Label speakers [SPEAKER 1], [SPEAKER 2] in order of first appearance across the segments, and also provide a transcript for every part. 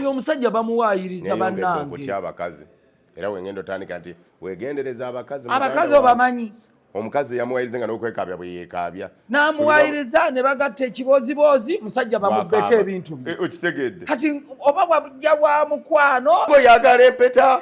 [SPEAKER 1] oyo omusajja bamuwayiriza banange abakazi
[SPEAKER 2] era wengenda otandika nti wegendereza abakazi abakazi obamanyi
[SPEAKER 1] omukazi
[SPEAKER 2] yamuwayiriza nga nokwekabya bweyekabya namuwayiriza
[SPEAKER 1] ne bagatta ekibooziboozi musajja bamubbeko ebintu bye eh, okitegedde kati
[SPEAKER 2] oba
[SPEAKER 1] wajja wa mukwano oyagala empeta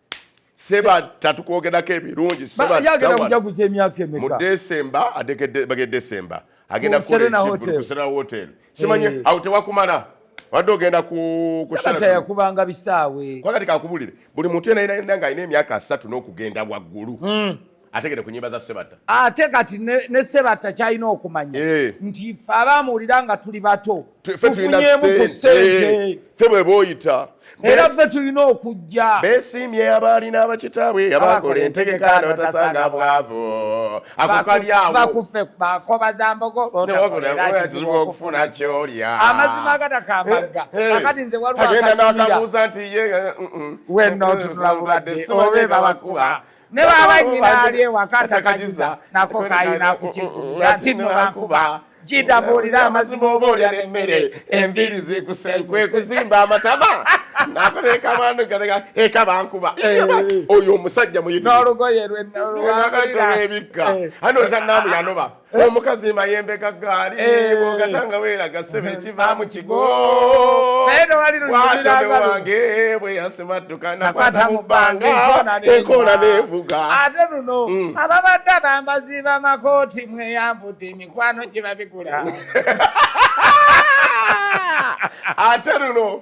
[SPEAKER 1] seba
[SPEAKER 2] tatukwogerako ebirungi sebajaguza
[SPEAKER 1] emyaka emeka mu desemba
[SPEAKER 2] ategedde desemba agenda kuserena hotel simanyi eh. awo tewakumala wadde ogenda kuyakubanga
[SPEAKER 1] bisaawe kwagati kakubulire
[SPEAKER 2] buli muntu enainanga alina emyaka asatu n'okugenda waggulu hmm. ategere ku nyimba za Sebatta. Ate kati ne,
[SPEAKER 1] ne Sebatta kyalina okumanya eh. nti ffe abamuwulira nga tuli bato tufunyemu ku sente eh. ffe bwe booyita
[SPEAKER 2] era ffe tulina
[SPEAKER 1] okujja beesiimye abaalina
[SPEAKER 2] abakitaabwe abakola entegeka notasanga bwavu akokalyawobakufe bakoba
[SPEAKER 1] za mbogo otakizibu okufuna
[SPEAKER 2] kyolya amazima agatakambagga
[SPEAKER 1] eh, eh. akati nze waliwo agenda nakabuuza
[SPEAKER 2] nti ye mm, mm. wenno
[SPEAKER 1] ntunulabulwadde obe babakuba ne baba nyina ali ewaka atakajuza nako kayina kukikuza nti no bankuba jida mbuulira amazima oba olya nemmere enviiri
[SPEAKER 2] zikusegwe kuzimba amatama nakuteeka mwandu gateka eka bankuba eh. oyo omusajja muyitnolugoye
[SPEAKER 1] lwenolwebikka
[SPEAKER 2] eh. ane oleta naamu yanoba Eh? omukazi mayembe ga ggaali eh. bwogatanga weeraga sebe eh. kivaamu kigowaliwange bwe yasimadduka nakwata mu bbanga ekola nevuga ate luno mm.
[SPEAKER 1] ababadde abambazi bamakooti mweyambudde emikwano gye babigula
[SPEAKER 2] ate luno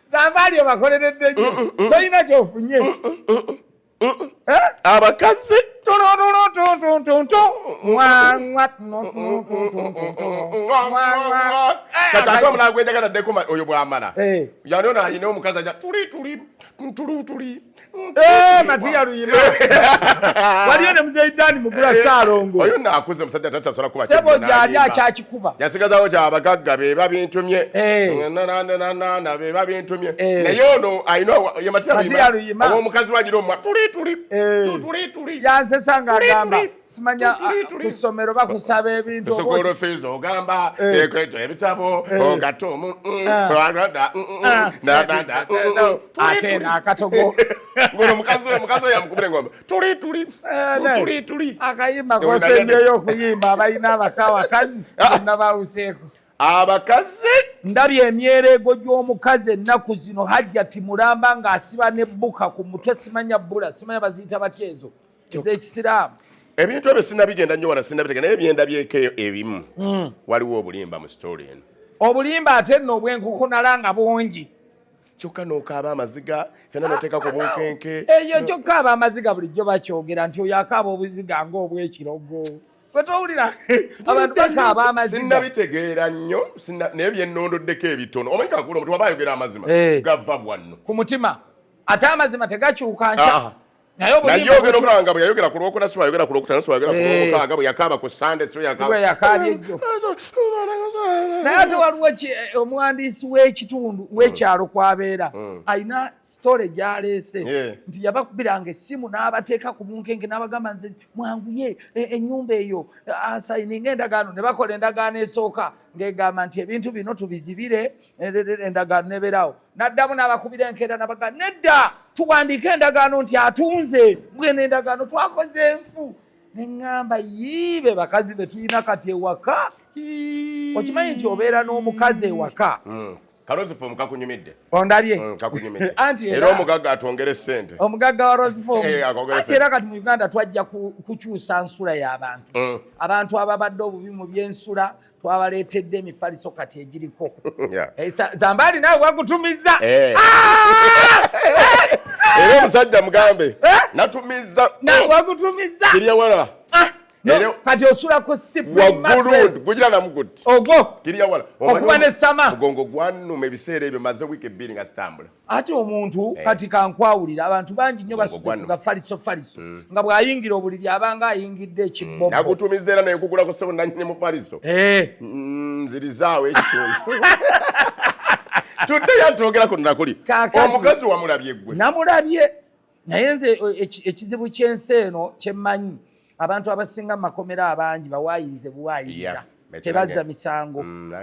[SPEAKER 2] zambaali
[SPEAKER 1] obakoleredde
[SPEAKER 2] nyo mm, mm, mm. tolina kyofunye eh? abakazi kataate omulala gwejagala ddeko oyo bwamala eh. yanona alina omukazi aja tuli tuli tuli tuli Eh,
[SPEAKER 1] matiya luyima waliyo ne muzeyi dani mugula eh, saalongo oyo nakuze musajja
[SPEAKER 2] takyasala kuba sebo gyali
[SPEAKER 1] akyakikuba yasigazawo kya bagagga
[SPEAKER 2] be babintumye eh. nananana be babintumye naye ono alina ye matiya luyima omukazi wagira omwa tuli tuli tuli tuli yansesa nga
[SPEAKER 1] agamba simanya ah, ku ssomero bakusaba ebintu sukulu fees ogamba
[SPEAKER 2] eh. ekweto ebitabo eh. ogatumu mm, ah. ah.
[SPEAKER 1] mm, ate nakatogo ngono mukazi oyo
[SPEAKER 2] mukazi oyo amukubira engombe tuli tuli eh, tuli tuli akayimba kosembyeyo
[SPEAKER 1] okuyimba abalina abaka abakazi bonna bawuseeko abakazi
[SPEAKER 2] ndabye
[SPEAKER 1] emyereego gy'omukazi ennaku zino hajjati mulamba ng'asiba ne bbuka ku mutwe simanya bbula simanya baziyita batya ezo ekisiraamu ebintu ebyo
[SPEAKER 2] sinabigenda nnyo wala sinabitega naye byendabyeko ebimu hmm. waliwo obulimba mu sitoli eno obulimba ate nno
[SPEAKER 1] obwenkukunala nga bungi kyokka
[SPEAKER 2] nokaaba amaziga fena noteeka ku bunkenke eyo kyokka aba
[SPEAKER 1] amaziga bulijjo bakyogera nti oyo akaaba obuziga ngaobwekirogo wetowulira abantu bakaaba amaziga sinabitegeera nnyo
[SPEAKER 2] naye byennondoddeko ebitono omanyi kakula omuntu waba ayogera amazima eh. gava bwanno ku mutima
[SPEAKER 1] ate amazima tegakyuka nkya naye oyogera
[SPEAKER 2] obanga bwe yayogera ku lwokuna si wayogera ku lwokutano si wayogera ku eh. lwomukaaga bwe yakaaba ku sande si yakaabye ejjo
[SPEAKER 1] naye ate waliwo eh, omuwandiisi w'ekitundu w'ekyalo mm. kwabeera mm. alina sitole gyaleese nti yabakubiranga essimu n'abateeka ku bunkenke n'abagamba nze mwanguye e, ennyumba eyo asayininga endagaano ne bakola endagaano esooka ng'egamba nti ebintu bino tubizibire endagaano neberaawo naddamu n'abakubira enkeera nabaga nedda tuwandiika endagaano nti atunze mbwena endagaano twakoze enfu neŋŋamba yiibe bakazi be tulina kati ewaka okimanyi nti obeera n'omukazi ewaka hmm. kalozifom
[SPEAKER 2] kakunyumidde ondabye hmm,
[SPEAKER 1] kakunyumidde
[SPEAKER 2] era omugagga atwongere sente omugagga wa rozifom
[SPEAKER 1] eh, anti era kati mu uganda twajja kukyusa nsula y'abantu hmm. abantu ababadde obubi mu byensula twabaleetedde emifaliso kati egiriko eh, zambaali nawe wagutumizza eh.
[SPEAKER 2] ah! era omusajja mugambe eh? natumizza wagutumizza
[SPEAKER 1] kiryawala
[SPEAKER 2] ah! kati
[SPEAKER 1] osula ku siwaggulugugira
[SPEAKER 2] namuguti ogwo kiryawala
[SPEAKER 1] okuba
[SPEAKER 2] ne sama
[SPEAKER 1] mugongo gwanuma
[SPEAKER 2] ebiseera ebyo maze wiiki ebbiri nga zitambula ate omuntu eh.
[SPEAKER 1] kati kankwawulira abantu bangi nnyo basuga faliso faliso mm. nga bw'ayingira obuliri abanga ayingidde ekibbonagutumiza mm. era naye kugula
[SPEAKER 2] ku ssebo nanyini mu faliso eh. mm, nzirizaawo ekitundu tudde yatwogera ku nakuli omukazi wamulabye gwe namulabye
[SPEAKER 1] naye nze ekizibu kyensi eno kyemmanyi abantu abasinga mumakomera abangi bawaayirize buwaayiriza tebazza misango mm,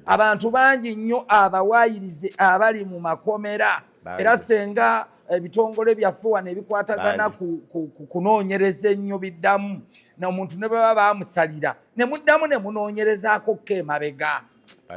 [SPEAKER 1] abantu bangi nnyo abawaayirize abali mu makomera era senga ebitongole eh, byaffe wano ebikwatagana kunoonyereza ennyo biddamu nomuntu ne baba bamusalira ne muddamu ne munoonyerezaako ko emabega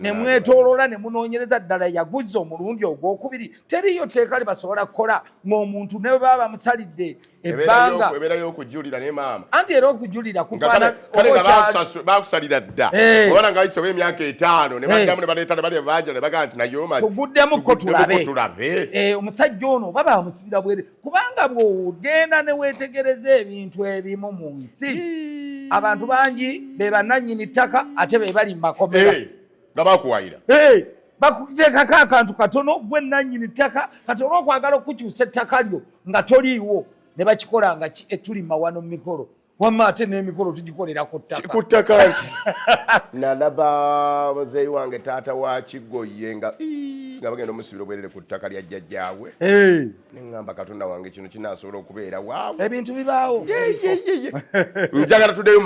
[SPEAKER 1] ne mwetoloola ne munoonyereza ddala yaguzza omulundi ogwokubiri teriyo tteeka li basobola kukola ng'omuntu ne baba bamusalidde ebbanga ebeerayo okujulira
[SPEAKER 2] ne maama anti era okujulira kufaanakalebakusalira dda eh. obana nga wayisewo emyaka etaano ne eh. baddamu ne baleeta ne bali baajala ne bagaa nti naye omatuguddemu ko tulabe
[SPEAKER 1] eh, omusajja ono oba bamusibira bwere kubanga bw'ogenda ne weetegereza ebintu ebimu mu nsi hmm. abantu bangi be bannannyini ttaka ate be bali mu makomera eh, nga bakuwayira
[SPEAKER 2] eh, bakuteekako
[SPEAKER 1] akantu katono gwe nnannyini ttaka kati oba okwagala okukukyusa ettaka lyo nga toliiwo ne bakikola nga etulima eh, wano mu mikolo wamma ate n'emikolo tugikolera ku ttaka ku ttaka nti
[SPEAKER 2] nalaba muzeeyi wange taata wa kigoye nga nga bagenda omusibira obwerere ku ttaka lya jjajjaabwe neŋŋamba katonda wange kino kinaasobola okubeera waawo ebintu bibaawo njagala tuddeyo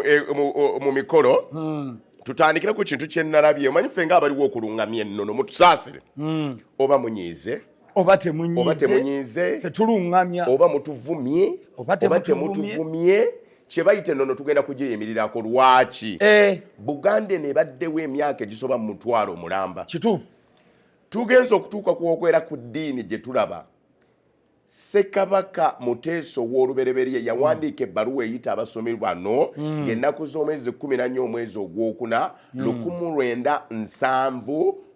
[SPEAKER 2] e, mu mikolo hmm. tutandikire ku kintu kye nalabye omanyi ffe nga abaliwo okulungamya ennono mutusaasire hmm. oba munyiize oba
[SPEAKER 1] temunyiize tetulungamya
[SPEAKER 2] oba mutuvumye oba temutuvumye kyebayita enono tugenda kugiyimirirako lwaki eh. buganda eno ebaddewo emyaka egisoba mu mutwalo mulamba kituufu
[SPEAKER 1] tugenza
[SPEAKER 2] okutuuka kwokwera ku ddiini gye tulaba sekabaka muteeso w'olubereberye yawandiika ebbaluwa eyita abasomi bano hmm. ng'ennaku z'omwezi kumi nanya omwezi ogwokuna hmm. lukumu lwenda nsanvu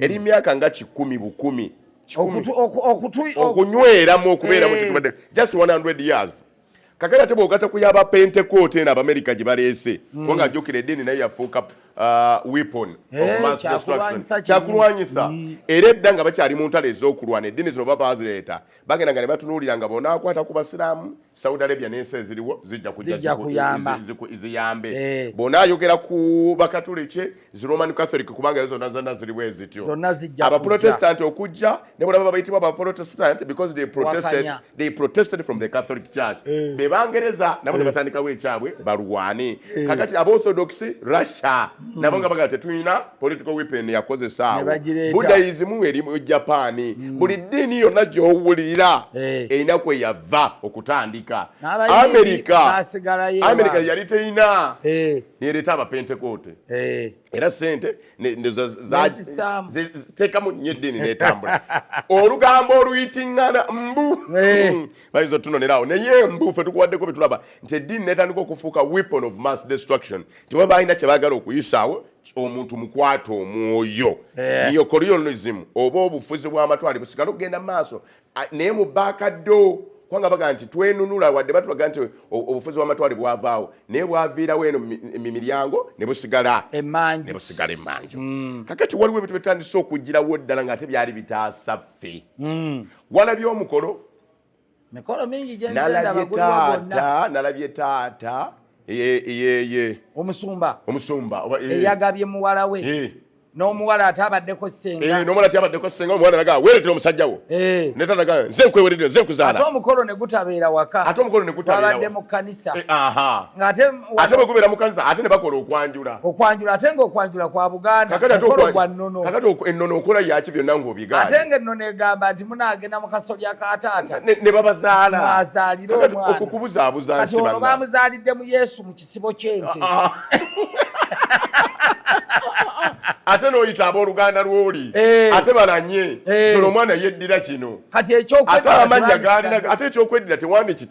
[SPEAKER 2] eri myaka nga kikumi bukumi okunyweramu okubeeramu eh. tetubadde just 100 years kakati ate bwogata ku yaba pentecote eno abamerica gye baleese hmm. kubanga ajjukira eddiini naye yafuuka uh, weapon eh, kyakulwanyisa hmm. era edda nga bakyali mu ntalo ez'okulwana eddiini zino baba bazireeta bagenda nga ne batunuulira nga bonakwata ku basiraamu Saudi Arabia n'ensi eziriwo zijja kujja kuyamba ziyambe eh. bona ayogera ku bakatuliki zi Roman Catholic kubanga zonna zonna ziriwo ezityo zonna zijja aba Protestant okujja ne bona baba bayitibwa aba Protestant because they protested Wakanya. they protested from the Catholic Church eh. be bangereza nabo ne eh. batandikawo ekyabwe balwane kakati aba Orthodox Russia hmm. nabo nga bagala tetulina political weapon yakozesa awo budaism eri mu japaani hmm. buli ddiini yonna gyowulira eh. erina kwe yava okutandika amerika amerika yali terina eh. nereeta abapentekoote eh. era sente teekamu nyo eddiini netambula olugambo oluyitingana mbu hmm. bayinza otunoneraawo naye mbu fe tukuwaddeko betulaba nti eddiini netandika okufuuka weapon of mass destruction teba balina kyebagala okuyisaawo omuntu mukwata omwoyo eh. neocorionism oba obufuzi bwamatwale busigala okugenda maaso naye mubakaddo kubanga baga nti twenunula wadde batulaga nti obufuzi bwamatwale bwavaawo naye bwaviirawo eno mumiryango nebusigala nebusigala emanju mm. kakati waliwo ebintu bitandise okugirawo ddala nga ate byali bitaasa ffe mm. walabye omukolo
[SPEAKER 1] mikolo mingi
[SPEAKER 2] gyenalabye taata
[SPEAKER 1] nalabye
[SPEAKER 2] taata
[SPEAKER 1] yeye omusumba omusumba eh.
[SPEAKER 2] eyagabye muwala
[SPEAKER 1] we eh. n'omuwala ate abaddeko senga eh, n'omuwala ate abaddeko senga
[SPEAKER 2] omuwala naga weeretera omusajja wo ne tanaga nze nkweweredde nze nkuzaala ate omukolo ne gutabeera
[SPEAKER 1] waka ate omukolo ne gutabeera wabadde
[SPEAKER 2] mu kanisa kanisa eh,
[SPEAKER 1] ng'ate
[SPEAKER 2] ate bwe gubeera mu kanisa ate ne bakola okwanjula okwanjula ate ng'okwanjula
[SPEAKER 1] kwa buganda okolo gwa nnono kakati ennono okola
[SPEAKER 2] yaki byonna ng'obigaana ate ng'ennono egamba
[SPEAKER 1] nti munaagenda mu kasolya ka taata ne babazaala
[SPEAKER 2] azaalire omwana
[SPEAKER 1] okukubuzaabuza nsi banna
[SPEAKER 2] baamuzaalidde
[SPEAKER 1] mu yesu mu kisibo ky'ente ah, ah.
[SPEAKER 2] ate noyita aboluganda lwoli eh. ate balanye eh. tolo omwana yeddira kino ate amannya galina ate ekyokwedira tewandiki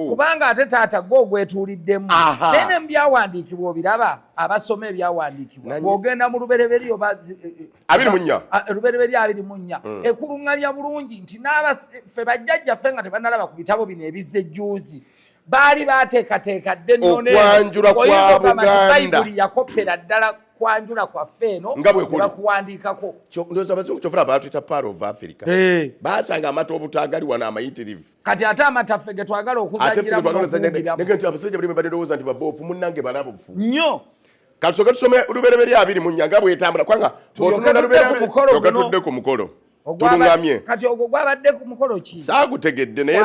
[SPEAKER 2] kubanga ate taata
[SPEAKER 1] gwe ogwetuuliddemu naye ne mubyawandiikibwa obiraba abasoma ebyawandiikibwa ogenda mu lubereberye oba eh, eh, abiri munya ah, eh, lubereberye abiri munya mm. ekulungamya bulungi nti n'abafe bajjajjaffe nga tebanalaba ku bitabo bino ebizze jjuuzi baali bateekateeka dde nonokwanjula kwa
[SPEAKER 2] buganda yakoppera
[SPEAKER 1] ddala kwanjula kwaffe eno nga bwekuwandiikako ndoza abazungu
[SPEAKER 2] kyofuna baatuyita par of africa baasanga amata obutaagali wano amayitirivu kati ate
[SPEAKER 1] amataffe getwagala okuzanyiraabasajjabaddeowoza
[SPEAKER 2] nti babofu munange balabufu nyo
[SPEAKER 1] katusoke tusome
[SPEAKER 2] lubereberye abiri mu nyanga bwetambula kubanga otunalubetudde ku mukolo tulungamye kati ogwo gwabadde
[SPEAKER 1] ku mukolo ki saagutegedde naye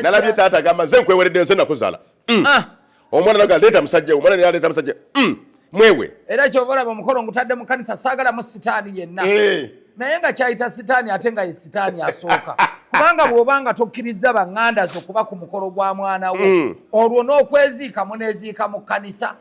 [SPEAKER 2] nalabye taata gamba nze nkweweredde nze nakuzala mm. ah. omwana naga leeta musajja omwana naye aleeta musajja mm, mwewe era kyova olaba
[SPEAKER 1] omukolo ngutadde mu kanisa saagalamu sitaani yenna eh. naye nga kyayita sitaani ate nga ye sitaani asooka kubanga bw'oba nga tokkirizza baŋŋanda zo kuba ku mukolo gwa mwana wo mm. olwo n'okweziika muneeziika mu kanisa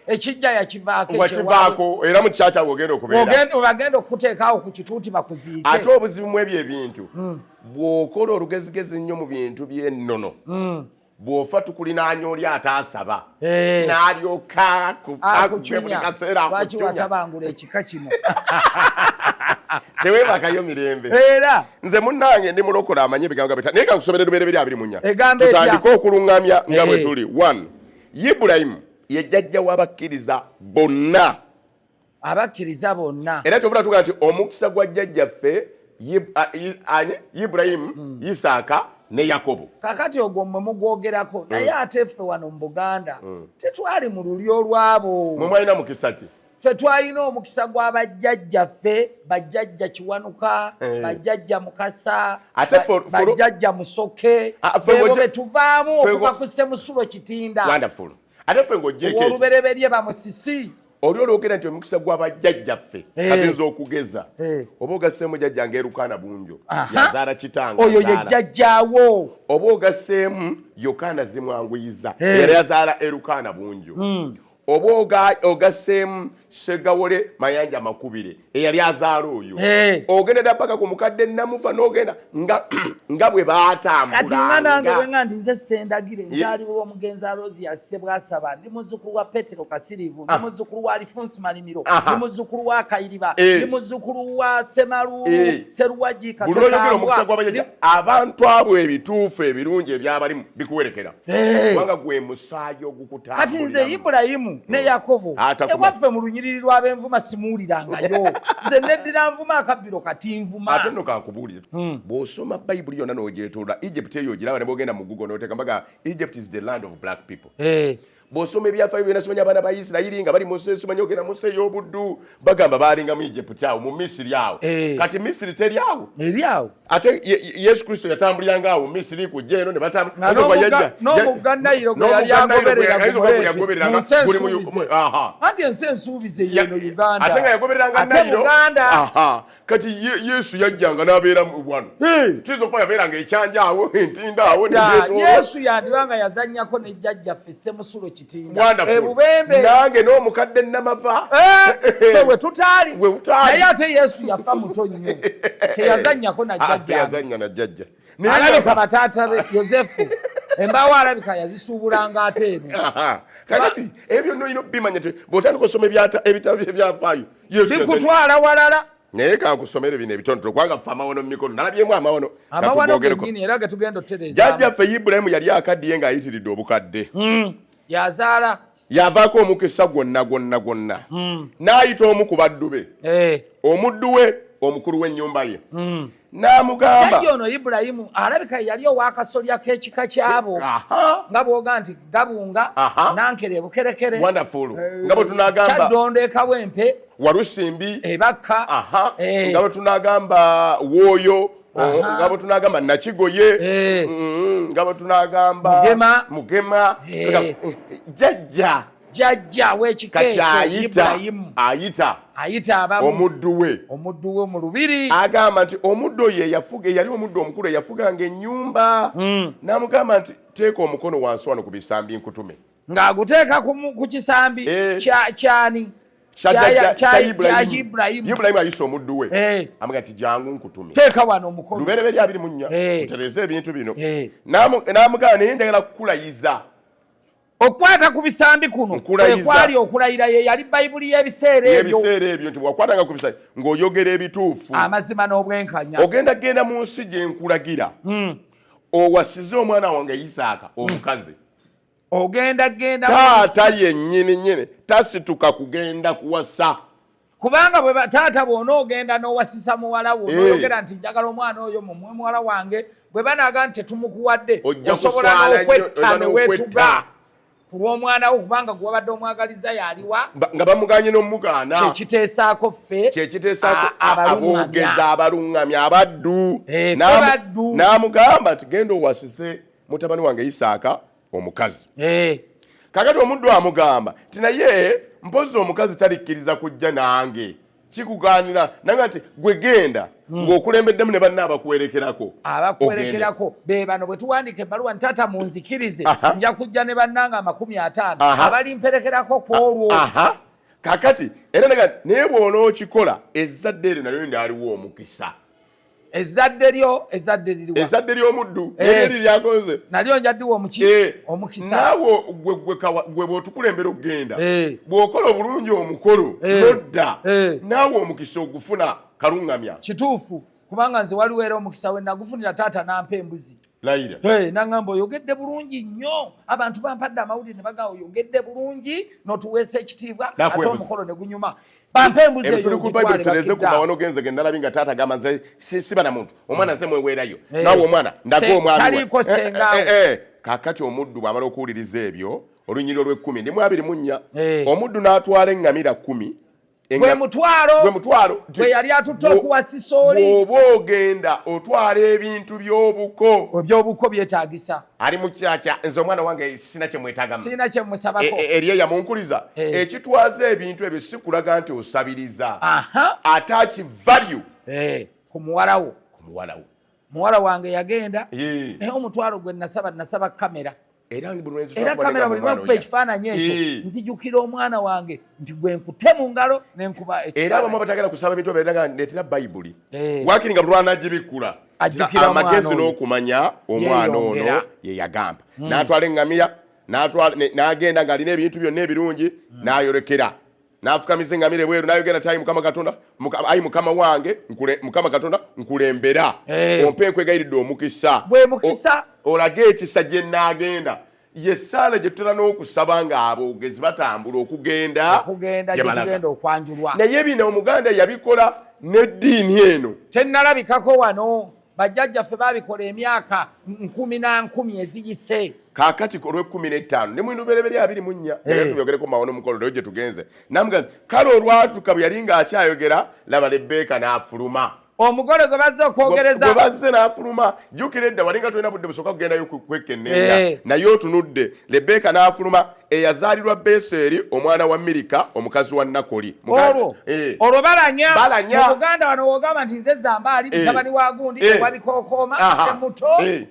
[SPEAKER 1] ekijja yakivaako
[SPEAKER 2] era mu kisa kyabwe ogenda okubeerabagenda okukuteekaawo
[SPEAKER 1] ku kituuti bakuziike ate obuzibu mu ebyo
[SPEAKER 2] ebintu mm. bw'okola olugezigezi nnyo mu bintu by'ennono mm. bw'ofa tukulinaanya oli ataasaba eh. n'alyoka akugwe buli kaseera lwaki watabangula
[SPEAKER 1] ekika kino
[SPEAKER 2] tewebakayo mirembe era nze munnange ndi mulokola amanyi ebigambo gabeta naye kankusomere lubeere biri abiri munya tutandike okuluŋŋamya nga bwe eh. tuli one ibulayimu ye jjajja w'abakkiriza bonna abakkiriza bonna era kyovula tuga nti omukisa gwa jjajjaffe ani iburayimu hmm. isaaka ne yakobo kakati ogwo mwe
[SPEAKER 1] mugwogerako hmm. naye ate ffe wano mu buganda hmm. tetwali mu luli olwabo mwe mwalina mukisa ki
[SPEAKER 2] ffe twalina
[SPEAKER 1] omukisa gwa bajjajjaffe bajjajja kiwanuka eh. bajjajja mukasa bajjajja musoke ah, ebo betuvaamu okuva ku semusulo kitinda ate ffe
[SPEAKER 2] ng'ogyeko olubereberye bamusisi
[SPEAKER 1] oli olwogera nti
[SPEAKER 2] omukisa gwa bajjajjaffe eh. katinza okugeza eh. oba ogasseemu jajja nga erukaana bunjo yazaala kitanga oyo ye jajjawo
[SPEAKER 1] oba ogasseemu
[SPEAKER 2] yokaana zimwanguyiza eh. era yazaala erukaana bunjo hmm. oba ogasseemu segawole mayanja makubire eyali azaala oyo hey. ogenda dda paka ku mukadde namufa nogenda nga, nga bwe batambulakati nga nange bwenga
[SPEAKER 1] nti nze sendagire nzaliwo yeah. omugenzi alozi yasse bwasaba ndi muzukulu wa petero kasirivu ndi ah. muzukulu wa alifonsi malimiro ndi muzukulu wa kayiriba hey. Eh. ndi muzukulu wa semalu hey. Eh. seruwagi katambwa
[SPEAKER 2] abantu abo ebituufu ebirungi ebyabalimu bikuwerekera eh. kubanga gwe musaayi ogukutambulira kati nze ibulayimu
[SPEAKER 1] ne oh. yakobo ewaffe mu lunyiriri lw'abenvuma simuwulirangayo nze neddira nvuma akabbiro kati nvuma ate nno kankubuulire
[SPEAKER 2] hmm. bw'osoma bayibuli yonna n'ogyetolola egypt eyo ogiraba ne bwogenda mu gugo n'oteeka mbaga egypt is the land of black people eh. bwosoma ebyafayo byona simanya abaana ba isirayiri nga bali munsi simanya ogenda munsi ey'obuddu bagamba baalingamu egypt awo mu misiri awo eh. kati misiri teri awo eri awo ate yesu kristo yatambuliranga awo misiri kujja eno nebatambuliaomugga nayiro
[SPEAKER 1] gweyali agobereraanti ensi ensuubize yeno ugandaate nga yagobereranga nayiro
[SPEAKER 2] kati yesu yajjanga nabeera wano tuyinza okuba yabeeranga ekyanja awo entinda awo yesu
[SPEAKER 1] yandibanga yazanyako nejjajjaffe semusulo ebubembe nange
[SPEAKER 2] n'omukadde namava eh, we
[SPEAKER 1] tutaali naye ate yesu yafa muto nnyo teyazanyako najjajjayazanya na jjajja
[SPEAKER 2] alabika
[SPEAKER 1] bataata be yosefu embaawo alabika yazisuubulanga ate eno kakati
[SPEAKER 2] ebyo byonna olina okubimanya bwotandika osoma ebitabo ebyafaayo bikutwala
[SPEAKER 1] walala naye kankusomere
[SPEAKER 2] bino ebitonotono kubanga ffe amawono mu mikono nalabyemu amawono
[SPEAKER 1] jajja ffe ibulayimu yali
[SPEAKER 2] akaddiye ng'ayitiridde obukadde hmm. yazaala
[SPEAKER 1] yavaako omukisa
[SPEAKER 2] gwonna gwonna gwonna hmm. n'ayita omu ku baddu be eh. omuddu we omukulu w'ennyumba ye hmm. n'amugamba jajja ono ibulayimu
[SPEAKER 1] alabika yali owakasolya k'ekika kyabo nga bwoga nti gabunga nankere bukerekere eh, nga bwe
[SPEAKER 2] tunagamba kyaddondo ekawa empe
[SPEAKER 1] walusimbi
[SPEAKER 2] ebakka eh.
[SPEAKER 1] nga bwe
[SPEAKER 2] tunagamba wooyo oh, nga bwe tunagamba nakigoye eh. mm, nga bwe tunagamba mugema jajja jajja
[SPEAKER 1] wekikeayita omuddu we omuddu
[SPEAKER 2] we mu lubiri
[SPEAKER 1] agamba nti omuddu
[SPEAKER 2] oyo eyafuga eyali omuddu omukulu eyafuganga ennyumba hmm. namugamba nti teeka omukono wansi wano ku bisambi nkutume ng'aguteeka
[SPEAKER 1] ku kisambi eh. kyani
[SPEAKER 2] ibulayimu ayise omuddu we eh. amuga nti jangu nkutume teeka wano omukono
[SPEAKER 1] lubereberye abiri munnya
[SPEAKER 2] eh. tutereze ebintu bino namugamba naye njagala kukulayiza
[SPEAKER 1] okukwata ku bisambi kuno kwekwali okulayira ye yali bayibuli y'ebiseera ebyoebiseera ebyo nti
[SPEAKER 2] bwakwatanga ku bisambi ng'oyogera ebituufu amazima n'obwenkanya
[SPEAKER 1] ogenda genda mu nsi
[SPEAKER 2] gye nkulagira hmm. owasize omwana wange isaaka omukazi ogenda
[SPEAKER 1] genda taata
[SPEAKER 2] yennyini nyini tasituka kugenda kuwasa kubanga bwe
[SPEAKER 1] taata bwona ogenda n'owasisa muwala wo eh. noyogera nti njagala omwana oyo mumwe muwala wange bwe banaga nti tetumukuwadde osobola n'okwetta newetuga ku lw'omwana wo kubanga gwe wabadde omwagaliza yaliwa nga bamuganye
[SPEAKER 2] n'omugaana kyekiteesaako ffe
[SPEAKER 1] kyekiteesaako
[SPEAKER 2] aboogeza abaluŋŋamya abaddu eh, n'amugamba tigenda owasise mutabani wange isaaka omukazi eh. kakati omuddu amugamba ti naye mpozi omukazi talikkiriza kujja nange kikuganira nanga nti gwe genda hmm. ng'okulembeddemu ne banna abakuwerekerako abakuwerekerako
[SPEAKER 1] be bano bwe tuwandika ebbaluwa ntaata munzikirize nja kujja ne bannanga amakumi ataano abalimperekerako ku olwo kakati
[SPEAKER 2] era naga naye bw'onookikola ezzadde eryo nalyo ndyaliwo omukisa ezadde
[SPEAKER 1] lyo ezadde liriwa ezadde ly'omuddu eh. naye liri lyagonze
[SPEAKER 2] nalyo nja ddiwa omuki
[SPEAKER 1] eh. omukisa naawe
[SPEAKER 2] gwe bw'otukulembera okugenda eh. bw'okola obulungi omukolo nodda naawe omukisa ogufuna kaluŋŋamya kituufu
[SPEAKER 1] kubanga nze waliwo era omukisa we nagufunira taata nampa embuzi layira hey, nangamba oyogedde bulungi nnyo abantu bampadde amawulire ne bagaa oyogedde bulungi notuweesa ekitiibwa ate omukolo ne gunyuma
[SPEAKER 2] bampembuzeyokubaanogenzegendalabi nga taata gamba nze siba na muntu omwana ze mweweerayo nawe omwana ndaga omwanae kakati omuddu bwamala okuwuliriza ebyo olunyiriro lw'ekkumi ndimu abiri mu nnya omuddu n'atwala eŋŋamira kkumi gwe mutwalo
[SPEAKER 1] gwe mutwalo gwe yali atutte okuwasisa oli bw'oba ogenda
[SPEAKER 2] otwala ebintu by'obuko eby'obuko byetaagisa
[SPEAKER 1] ali mu kyakya
[SPEAKER 2] nze omwana wange sirina kye mwetagama sirina kye musabako e, e, eri eyamunkuliza eh. ekitwaza ebintu ebyo si kulaga nti osabiriza ate akivalyu eh, ku
[SPEAKER 1] muwalawo ku muwalawo muwala wange yagenda naye omutwalo gwe nasaba nasaba kamera era kamera buli lwakuba ekifaananyi ekyo nzijukira omwana wange nti gwe nkute mu ngalo nenkuba era abamu abatagala
[SPEAKER 2] kusaba mitwe beeraga ndeetera bayibuli eh. wakiri nga bulwanagibikkula amagezi n'okumanya omwana ono ye yagamba hmm. n'atwala eŋŋamiya n'agenda ng'alina ebintu byonna ebirungi hmm. n'ayolekera n'afukamiza engamira ebweru n'ayogera nti ayi mukama katonda ayi mukama wange mukama katonda nkulembera eh. ompe nkwegayiridde omukisa olage ekisa gye naagenda ye ssaala gye tutera n'okusaba ng'aboogezi batambula okugenda
[SPEAKER 1] naye bino
[SPEAKER 2] omuganda yabikola n'eddiini eno tennalabikako
[SPEAKER 1] wano bajjajjaffe baabikola emyaka nkumi na nkumi eziyise kaakati ku lw'ekkumi
[SPEAKER 2] n'ettaano ne mwino bereberye abiri mu nnya era eh. tubyogereko mu mawono omukolo leero gye tugenze namuga nti kale olwatuka bwe yali ng'akyayogera laba lebbeeka n'afuluma omugole gwe bazze
[SPEAKER 1] okwogereza gwe bazze n'afuluma
[SPEAKER 2] jjukira edda wali nga tulina budde busooka kugendayo kwekkenneenya eh. naye otunudde lebbeeka n'afuluma eyazaalirwa Beseri omwana wa Mirika omukazi wa Nakoli. Olwo eh. olwo
[SPEAKER 1] balanya mu Buganda wano wogamba nti nze zamba ali eh. mutabani wa gundi eh. ewabikokooma se muto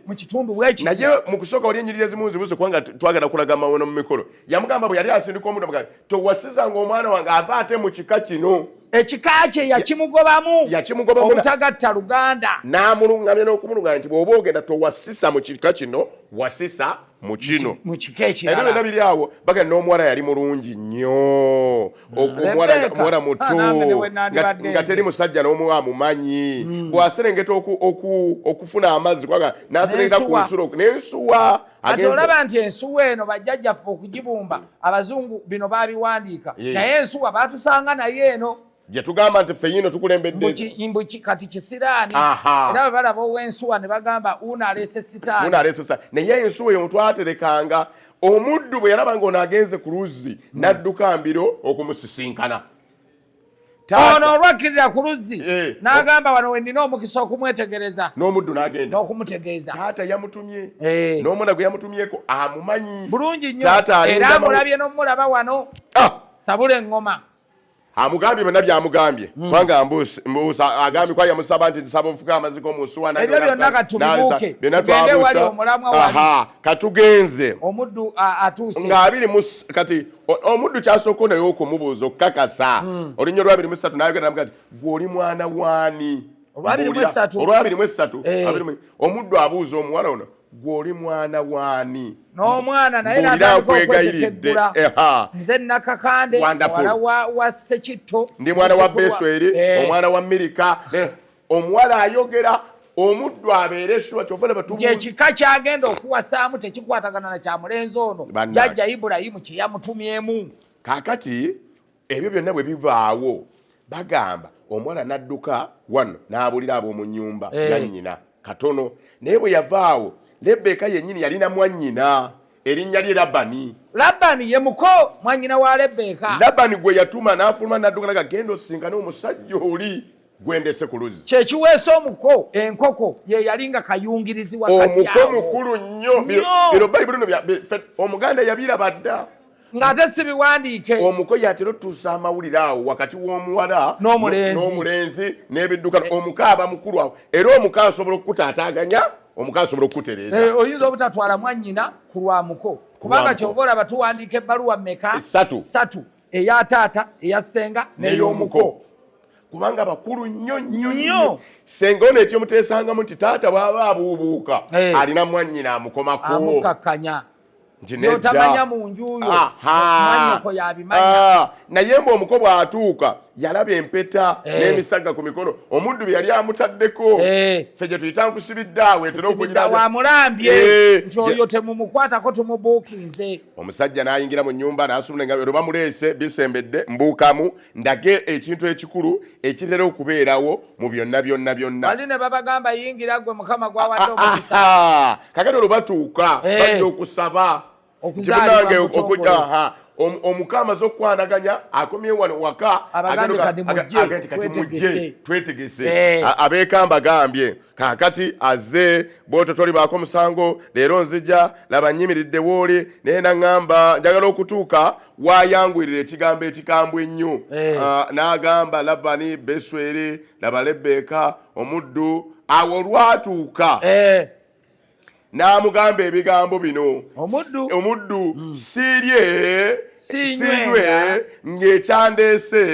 [SPEAKER 1] mu kitundu bwekiti. Naye mu kusooka wali
[SPEAKER 2] enyiriri ezimu nzibuuze kubanga twagala kulaga mawono mu mikolo. Yamugamba bwe yali asindika omuntu amugamba towasizanga omwana wange ava ate mu kika kino. ekika kye
[SPEAKER 1] yakimugobamu obutagatta
[SPEAKER 2] luganda n'amulungamya n'okumulunganya nti bw'oba ogenda towasisa
[SPEAKER 1] mu
[SPEAKER 2] kika kino wasisa mu kino era byonna
[SPEAKER 1] biri awo bagenda
[SPEAKER 2] n'omuwala yali mulungi nnyo omuwala muto nga teri musajja n'omu amumanyi hmm. bw'aserengeta okufuna amazzi kwaga n'aserengeta ku nsulo n'ensuwa ati olaba nti
[SPEAKER 1] ensuwa eno bajjajjaffe okugibumba abazungu bino baabiwandiika naye ensuwa baatusanga naye eno jetugamba nti
[SPEAKER 2] fenyino tukulembeddeimbu kati
[SPEAKER 1] kisiraani era bwe balaba owensuwa ne bagamba uno aleese sitaani naye ensuwa
[SPEAKER 2] eyo mutwaterekanga omuddu bwe yalaba nga ono agenze ku luzzi hmm. n'adduka mbiro okumusisinkana
[SPEAKER 1] ono olwakkirira ku luzzi eh. n'agamba wano we nina omukisa okumwetegereza n'omuddu n'agenda
[SPEAKER 2] n'okumutegeeza taata
[SPEAKER 1] yamutumye
[SPEAKER 2] eh. n'omwana gwe yamutumyeko amumanyi bulungi nnyo
[SPEAKER 1] era amulabye n'omulaba wano ah! sabula eŋŋoma amugambye
[SPEAKER 2] byonna byamugambye hmm. kubanga mbuusa agambye kwa yamusaba nti nsaba ofuka amaziko omunsuwanebyo byonna katubuuke
[SPEAKER 1] tugende wali
[SPEAKER 2] omulamwa wali katugenze omuddu
[SPEAKER 1] atuuse nga abiri
[SPEAKER 2] kati omuddu kyasooka naye okumubuuza okukakasa hmm. olunya olwabiri mu satu nayogera namuga ti gwe oli mwana waani olwabiri mu esatu eh. omuddu abuuza omuwala ono gwe oli mwana waani n'omwana naye
[SPEAKER 1] natandika okweteteggula nze nakakande wala wa sekitto ndi mwana wa
[SPEAKER 2] besweri eh. omwana wa mirika eh. omuwala ayogera omuddu abeere shuwa kyova nebatumyekika kyagenda
[SPEAKER 1] okuwasaamu tekikwatagana na kyamulenzi ono jajja ibulayimu kyeyamutumyemu kakati
[SPEAKER 2] ebyo byonna bwe bivaawo bagamba omuwala n'adduka wano n'abulira ab'omu nnyumba eh. yannyina katono naye bwe yavaawo lebbeeka yennyini yalina mwannyina erinnya lye labani labani ye muko
[SPEAKER 1] mwannyina wa lebbeeka labani gwe yatuma
[SPEAKER 2] n'afuluma n'adduka naga genda osisinkane omusajja oli gwendese ku luzzi kyekiweesa omuko
[SPEAKER 1] enkoko ye yali nga kayungirizi wakati awo omuko mukulu
[SPEAKER 2] nnyo bino bayibuli no omuganda yabiraba dda ng'ate si
[SPEAKER 1] biwandiike omuko yatera otuusa
[SPEAKER 2] amawulire awo wakati w'omuwala n'omulenzi n'ebiddukano eh. omuko aba mukulu awo era omuko asobola okukutaataaganya omuko asobola okukutereeza eh, oyinza obutatwala
[SPEAKER 1] mwannyina ku lwa muko kubanga kyova olaba tuwandiika ebbaluwa meka satu eya taata eya senga neyomuko kubanga
[SPEAKER 2] bakulu nnyo nnyo nnyo senga ono ekimuteesangamu nti taata bwaba abuubuuka eh. alina mwannyina amukomako amukakanya
[SPEAKER 1] otamanya mu njuyoanyoko yabimanya ah, naye mbu omuko
[SPEAKER 2] bw'atuuka yalaba empeta eh. n'emisagga ku mikono omuddu bye yali amutaddeko eh. fe gye tuyita nkusibidde awo etera okugira wamulambye eh.
[SPEAKER 1] nti oyo temumukwatako tumubuukinze omusajja n'ayingira
[SPEAKER 2] mu nnyumba n'asumula engabi olwo bamuleese bisembedde mbuukamu ndage ekintu ekikulu ekitera okubeerawo mu byonna byonna byonna ali ne babagamba
[SPEAKER 1] yingira gwe mukama gwawadde omukisa kakati olwo batuuka
[SPEAKER 2] eh. bajja okusaba kimunange okujja omuka amaze okukwanaganya akomye wano waka agenda kati mujje twetegese eh. abeekamba gambye kaakati azze bwoto tolibaako musango leero nzija laba nyimiridde wooli naye naŋŋamba njagala okutuuka waayanguyirira ekigambo ekikambwe ennyo hey. Eh. uh, ah, n'agamba labani beswere laba lebbeeka omuddu awo olwatuuka hey. Eh. n'amugamba ebigambo bino omuddu omuddu mm. sirye sinywe ng'ekyandeese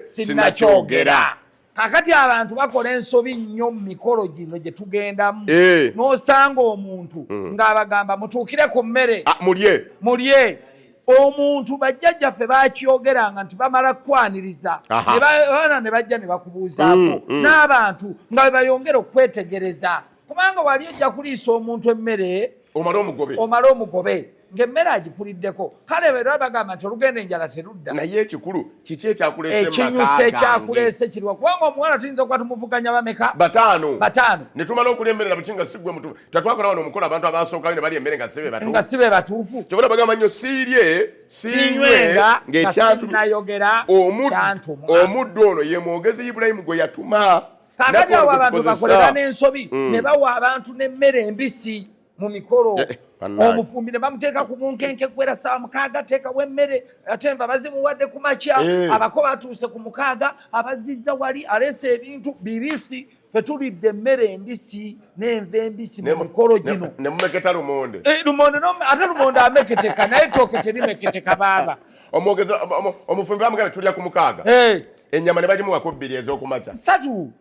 [SPEAKER 2] sinakyogera kakati
[SPEAKER 1] abantu bakola ensobi nnyo mu mikolo gino gye tugendamu eh. n'osanga omuntu mm. ng'abagamba mutuukire ku mmere ah, mulye mulye omuntu bajjajjaffe bakyogeranga nti bamala kukwaniriza abaana ne bajja ne bakubuuzaako mm, mm. n'abantu nga bwe bayongera okwetegereza kubanga wali ojja kuliisa omuntu emmere omale omugobe omale omugobe ng'emmere agikuliddeko kale era bagamba nti olugenda enjala terudda naye ekikulu
[SPEAKER 2] kiki ekyakuleeseekinyusa
[SPEAKER 1] ekyakuleese kiriwa kubanga omuwala tuyinza okuba tumuvuganya bameka bataano bataano
[SPEAKER 2] ne tumala okulya emmere nabuki nga sigwe mutufu tatwakola wano omukola abantu abasookayo ne balya emmere nga sibe batufu nga sibe batuufu kyobona bagamba nnyo siirye sinywenga ng'ekyantumi nayogera omuddu ono ye mwogezi ibulayimu gwe yatuma kakati awo abantu
[SPEAKER 1] bakolera n'ensobi mm. ne bawa abantu n'emmere embisi mu mikolo eh, eh, omufumbi ne bamuteeka ku bunkenke kuwera saawa mukaaga teekawo emmere ate nva bazimuwadde ku makya eh. abako batuuse ku mukaaga abazizza wali aleesa ebintu bibisi fe tulidde emmere embisi n'enva embisi mu mikolo gino nemumeketa lumonde
[SPEAKER 2] eh, lumonde ate
[SPEAKER 1] lumonde ameketeka naye tooke terimeketeka baaba omwogezi
[SPEAKER 2] omufumbi bamugana tulya ku mukaaga eh. ennyama
[SPEAKER 1] ne
[SPEAKER 2] bagimuwako bbiri ez'okumakya satu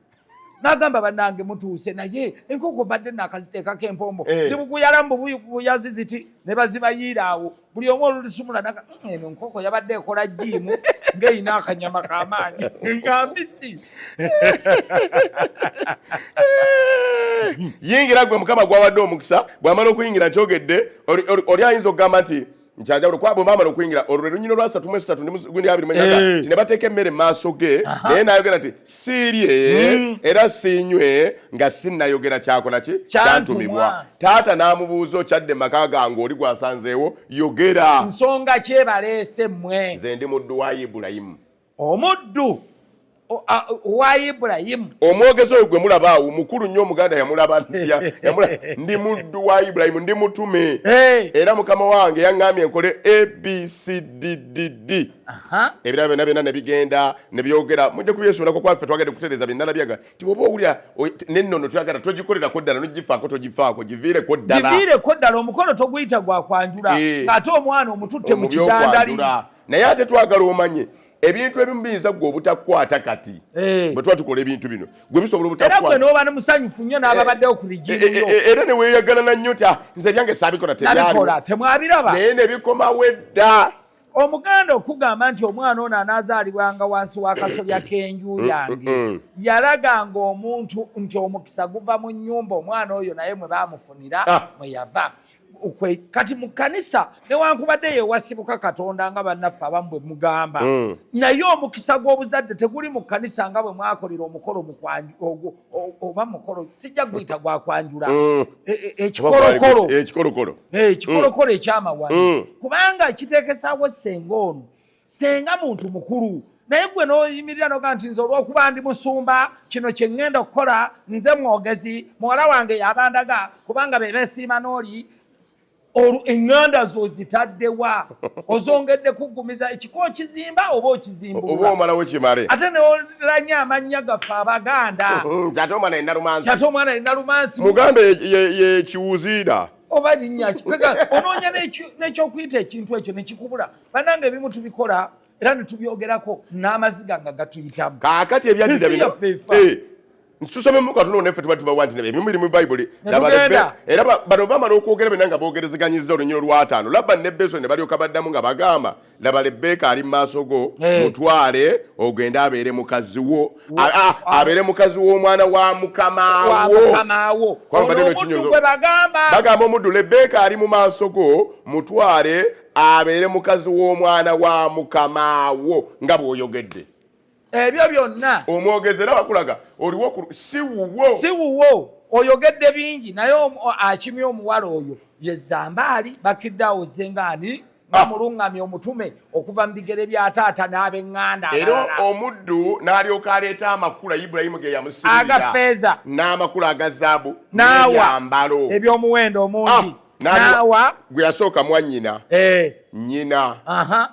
[SPEAKER 1] nagamba banange mutuuse naye enkoko badde nakaziteekako empombo eh. zibuguyala mbubuyazi ziti ne bazibayiira awo buli omu olulisumula naga mm, eno nkoko yabadde ekola jiimu ngaerina akanyama kamaanyi nga mbisi
[SPEAKER 2] yingira gwe mukama gwawadde omukisa bwamala okuyingira nkyogedde oli ayinza okugamba nti nkyanjawulo kuba bwemamala okuyingira olwo lwe lunyina olwasatu mwesatu gundi abiri mwenyaga eh. ti ne bateeka emmere maaso ge naye nayogera nti siirye hmm. era siinywe nga sinnayogera kyakola ki kyantumibwa taata n'amubuuza okyadde maka gange oli gwasanzeewo yogera nsonga
[SPEAKER 1] kyebaleese mmwe nze ndi muddu wa
[SPEAKER 2] ibulayimu omuddu
[SPEAKER 1] wa ibulayimu omwogezi oyo gwe
[SPEAKER 2] mulaba awo mukulu nnyo omuganda yamulaba ndi muddu wa ibulayimu ndi mutume era mukama wange yaŋŋambye nkole abcddd ebirala byonna byonna ne bigenda ne byogera mujja kubyesuulako kwaffe twagade kutereeza byennala byaga ti bwoba owulira nennono twagala togikolerako ddala nogifaako togifaako giviireko ddala giviireko ddala
[SPEAKER 1] omukolo toguyita gwa kwanjula ng'ate omwana omututte mu kidandali naye ate
[SPEAKER 2] twagala omanye ebintu ebimu biyinza gwe obutakwata kati eh. bwe tuba tukola ebintu bino gwe bisobola obutakwata noba nomusanyufu
[SPEAKER 1] nnyo n'ababaddewo ku bigiiyo eh, eh, era neweyagalana
[SPEAKER 2] nnyo ti ah, nze byange saabikola tebikola temwabiraba
[SPEAKER 1] naye nebikomawo
[SPEAKER 2] edda omuganda
[SPEAKER 1] okugamba nti omwana ono anaazaalibwanga wansi w'akasobya k'enju mm, yange mm, mm. yalaganga omuntu nti omukisa guva mu nnyumba omwana oyo naye mwe baamufunira ah. mwe yava kwe kati mu kkanisa newankubadde yewasibuka katonda nga bannaffe abamu bwe mugamba mm. naye omukisa gw'obuzadde teguli mu kkanisa nga bwe mwakolera omukolo ogwo oba mukolo sijja guyita gwakwanjula mm. e, e, ekikolokolo ekikolokolo eh, mm. ekyamawano mm. kubanga kiteekesaawo senga ono senga muntu mukulu naye gwe noyimirira noga nti nze olwokuba ndi musumba kino kyeŋŋenda okukola nze mwogezi muwala wange yabandaga kubanga bebesiima nooli olwo eŋŋanda zo zitaddewa ozongedde kuggumiza ekiko okizimba oba okizimbooba omalawo kimale
[SPEAKER 2] ate neolanya
[SPEAKER 1] amannya gaffe abaganda mm, ate omwana
[SPEAKER 2] yenalumansi ate omwana yenalumansi muganda
[SPEAKER 1] yekiwuziira
[SPEAKER 2] oba linnya
[SPEAKER 1] onoonya n'ekyokuyita ekintu ekyo nekikubula banange ebimu tubikola era netubyogerako n'amaziga nga gatuyitamu kakati ebyaddira bino
[SPEAKER 2] eh, nsusome muka tuno nefe tuba tubawa nti ebimu biri mu bayibuli era bano bamala okwogera bena nga bogerezeganyiza olunyiro lwataano labba ne beso ne balyoka baddamu nga bagamba laba lebbeeka ali mu maaso go eh. mutwale ogende abeere mukazi wo abeere mukazi w'omwana wa mukamawo bagamba omuddu lebbeeka ali mu maaso go mutwale abeere mukazi w'omwana wa mukamaawo nga bw'oyogedde ebyo
[SPEAKER 1] byonna omwogezi era wakulaga
[SPEAKER 2] oliwo si wuwo si wuwo oyogedde
[SPEAKER 1] bingi naye akimye omuwala oyo yezambaali bakidde awo zengaani nga ah. mulungamya omutume okuva mu bigere bya taata n'abenganda era omuddu
[SPEAKER 2] n'alyoka aleeta amakula ibulayimu ge yamusiiira agafeeza
[SPEAKER 1] n'amakula aga
[SPEAKER 2] zaabu n'awa
[SPEAKER 1] eby'omuwendo omungi ah. naawa gwe yasooka
[SPEAKER 2] mwannyina eh. nnyina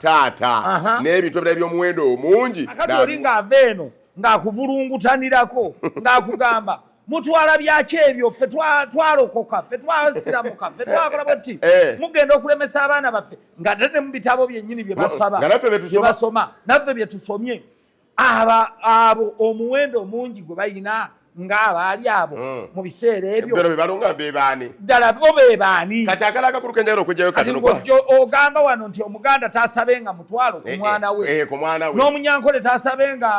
[SPEAKER 2] taata n'ebintu ebirala by'omuwendo omungi akati oli ng'ava
[SPEAKER 1] eno ng'akuvulungutanirako ng'akugamba mutwala byaki ebyo ffe twalokoka ffe twasiramuka ffe twakola bwetti eh. mugenda okulemesa abaana baffe nga ate ne mu bitabo byennyini bye basaba bye basoma naffe bye tusomye aba abo omuwendo omungi gwe balina ng'abaali abo hmm. mu biseera ebyobebalongabebaani
[SPEAKER 2] ddala bo bebaani
[SPEAKER 1] kati akala akakuluka enjagala
[SPEAKER 2] okujjayo katingojo ogamba
[SPEAKER 1] wano nti omuganda tasabe nga mutwalo ku eh, eh, mwana we eh, ku mwana we n'omunyankole tasabe nga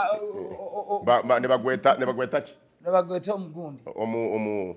[SPEAKER 2] ne bagwetaki ne bagweta
[SPEAKER 1] omugundi omu omu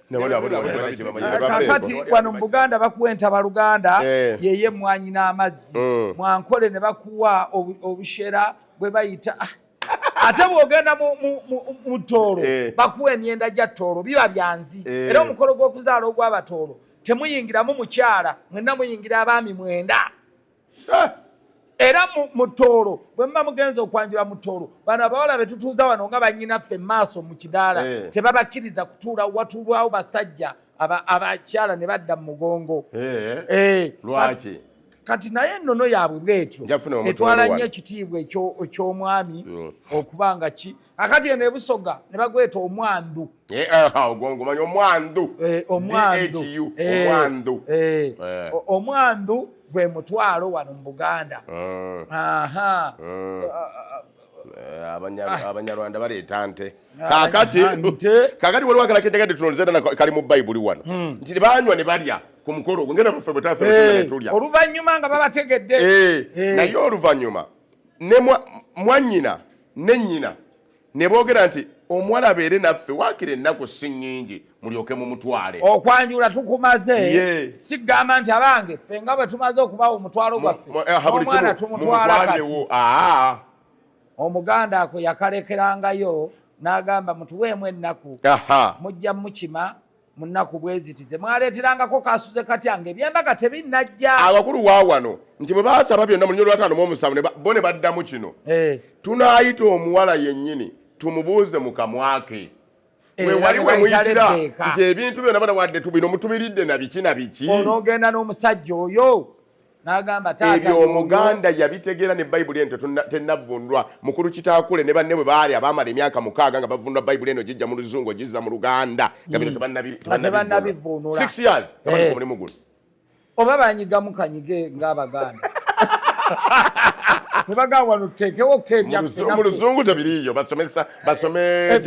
[SPEAKER 1] kakati wano mu buganda bakuwa entaba luganda eh. yeye mwanyi n'amazzi mm. mwankole ne bakuwa obushera bwe bayita ah. ate bwogenda mu toolo eh. bakuwa emyenda gya toolo biba byanzi eh. era omukolo gw'okuzaala ogw'abatoolo temuyingiramu mukyala mwenna muyingira abaami mwenda era mu tooro bwe muba mugenza okwanjula mu tooro bano abawala be tutuuza wano nga banyinaffe maaso mu kidaala eh. tebabakkiriza kutuula watulwawo basajja abakyala ne badda mu mugongo eh. Eh.
[SPEAKER 2] lwaki kati
[SPEAKER 1] naye ennono yaabwe bwetyo etwala nnyo ekitiibwa eky'omwami mm. okuba nga ki akati eno ebusoga ne bagweta omwandu eh, eh, ah, ogongomanya
[SPEAKER 2] omwandu eh, omwandu omwandu
[SPEAKER 1] omwandu gwe mutwalo wano mu buganda
[SPEAKER 2] ah. abanyarwanda baleeta nte kakati kakati waliwo akala kejagadde tunonzedana kali mu bayibuli wano hmm. nti banywa ne balya ku mukolo ogwo ngenda baffe bwetafetulya oluvannyuma nga babategedde
[SPEAKER 1] naye
[SPEAKER 2] oluvannyuma ne mwanyina ne nnyina ne boogera nti omuwala abeere naffe waakira ennaku si nnyingi mulyoke mu mutwale okwanjula tukumaze
[SPEAKER 1] sigamba nti abange ffe nga bwe tumaze okubawa omutwalo gwaffe eh, omwana tumutwala kati omuganda ako yakalekerangayo n'agamba mutuweemu ennaku mujja mukima mu nnaku bwe ziti ze mwaleeterangako kaasuze katya nga ebyembaga tebinnajja abakulu wa wano
[SPEAKER 2] nti bwe baasaba byonna mu lunyolo lwataano mu omusanvu bo ne baddamu kino eh. tunaayita omuwala yennyini tumubuuze mu kamwa ke eh, wewali wemuyitira nti ebintu byona bana wadde tubino mutubiridde na biki na biki onoogenda n'omusajja
[SPEAKER 1] oyo ebyo omuganda
[SPEAKER 2] yabitegeera ne bayibuli eno tenavundwa mukulu kitaakule ne banne bwe baali abaamala emyaka mukaaga nga bavundwa bayibuli eno gijja mu luzungu ogizza mu luganda nga bino hmm. tebannabivunula eh. omulimu guno oba banyigamu
[SPEAKER 1] kanyige ng'abaganda mu luzungu tebiriiyo
[SPEAKER 2] basomesa basome eh,